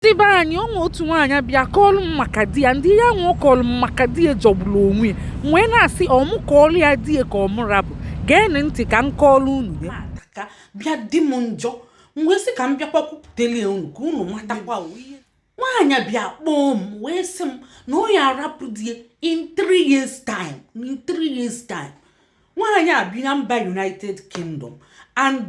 ndị be anyị o nwee otu nwaanyị bịa kọọlụ m maka di ya ndị ihe ahụ ọ kọọlụ m maka di ya jọgburu onwe ya m wee na-asị ọ mụ kọọlụ ya di ya ka ọ mụ rapụ geenụ ntị ka m kọọlụ unu ya ka ọ bịa dị m njọ m wee sị ka m bịakwa kwupụtele unu ka unu matakwa nwaanyị bịa kpọọ m wee sị m na ọ ya arapụ di ya in three years time in three years time nwaanyị a bi na mba united kingdom and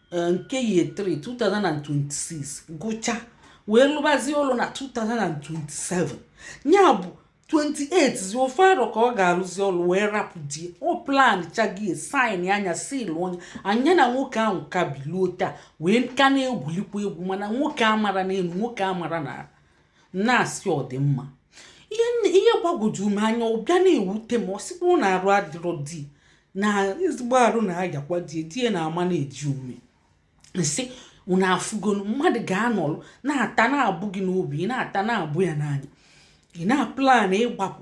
eh, nke year 3 2026 gụcha wee lụbazie ọlụ na 2027 ya bụ 28 zi ofu arọ ka ọ ga-arụzi ọrụ wee rapụ di ya ọ planchago ya signa nya sealuo nya nya na nwoke ahụ ka biluo taa wee ka na-egwulikwa egwu mana nwoke amara n'elu nwoke amara na na-asị ọ dị mma ihe gbagwoju m anya ọ bịa na-ewute m ọ sịkwu na arụ adịrọ di na ezigbo arụ na-ayakwa die die na-amanage ume m sị unu afụgonu mmadụ ga-anọrụ na-ata na-abụ gị n'obi ị na-ata na-abụ ya n'anya ị na-aplan ịgbapụ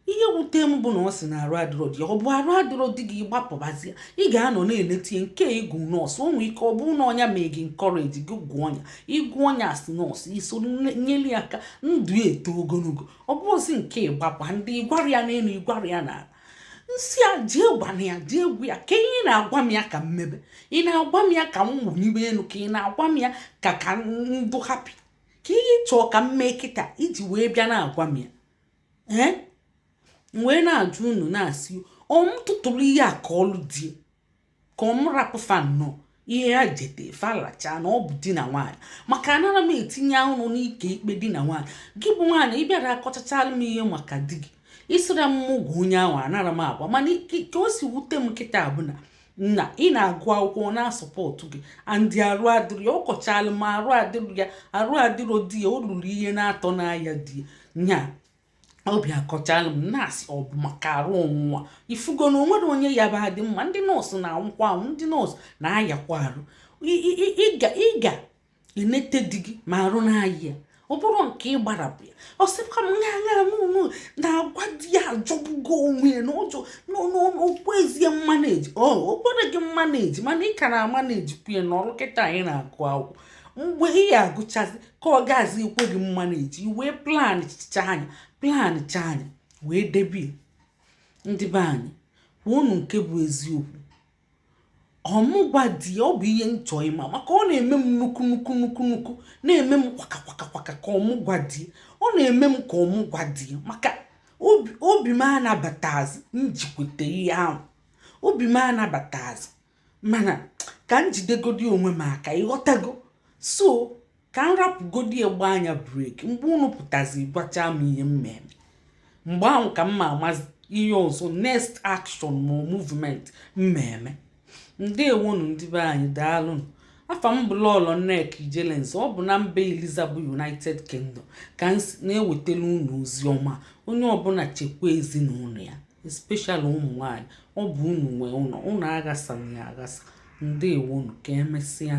ihe wute m bụ na ọ sị na arụ adịrọ di ọ bụ arụ adịrọ di gị ị gbapụbazie ị ga-anọ na-enete ya nke ị gụ nọọsụ o nwee ike ọ bụrụ na ọ nya mee gị encourage gị gụọ nya ị gụọ nya asị nọọsụ i so nyere ya aka ndụ eto ogologo ọ bụrụzi nke ịgbapụ ndị ị gwara ya n'elu ị gwara ya n'ala m sị ya jee gwanụ ya jee gwa ya kee ihe ị na-agwa m ya ka m mebe ị na-agwa m ya ka m wụnyiwe elu ka ị na-agwa m ya ka ka m dị happy kee ihe ị chọọ ka m mee kịta iji wee bịa na-agwa m ya ee m wee na-ajụ unu na-asị ọ m tụtụrụ ihe a kọọlụ di ya ka ọ m rapụ fa nnọọ ihe a jete fa lachaa na ọ bụ di na nwaanyị maka anara m etinye ọnụ n'ike ikpe di na nwaanyị gị bụ nwaanyị ị bịara akọchachalụ m ihe maka di gị ị sịra m mụ gwa onye ahụ anara m agwa mana ka o si wute m kịta bụ na na ị na-agụ akwụkwọ ọ na-asupport gị and arụ adịrọ ya ọ kọchaalụ m arụ adịrọ ya arụ adịrọ di ya o ruru ihe naatọ na-aya di ya nya ọ bịa kọchaalụ m na-asị ọ bụ maka arụ ọnwụnwa ị fụgo na o nwere onye ya bụ adị mma ndị nọọsụ na-anwụkwa anwụ ndị nọọsụ na-ayakwa arụ ị ga enete di gị ma arụ na-aya ya ọ bụrụ nke ị gbarapụ ya ọ sịkwa m ya ṅa n'ụlọ na agwa di ya ajọgbugo onwe ya na njọ na o kwezirọ manage o kwerọ gị manage mana ị ka na-amanagekwu ya nọrọ kịta ị na-agụ akwụkwọ mgbe ị ya agụchazi ka ọ gazi ekwe gị manage wee planchachaa nya planchaa nya wee debie ndị be anyị kwuonu nke bụ eziokwu ọ mụ gwa di ya ọ bụ ihe m chọọ ịma maka ọ na-eme m nnukwu nnukwu nnukwu nnukwu na-eme m kwaka kwaka kwaka ka ọ mụ gwa di ya ọ na-eme m ka ọ mụ gwa di ya maka obi m anabatazi m jikwete ihe ahụ obi m anabatazi mana ka m jidegodi onwe m aka ị ghọtago so ka m rapụgodi ya gbaa anya breki mgbe unu pụtazi gwachaa m ihe m ma eme mgbe ahụ ka m ma amazi ihe ọzọ next action ma movement m ma eme ndewonu ndị be anyị daalụnụ afa m bụ lọlọ nneka ijelenze ọ bụ na mba eliza bụ united kingdom ka m na-ewetara unu ozi ọma onye ọbụla chekwa ezinụlọ ya especially ụmụ nwanyị ọ bụ unu nwe ụlọ unu aghasana ya aghasa ndewonu ka emesịa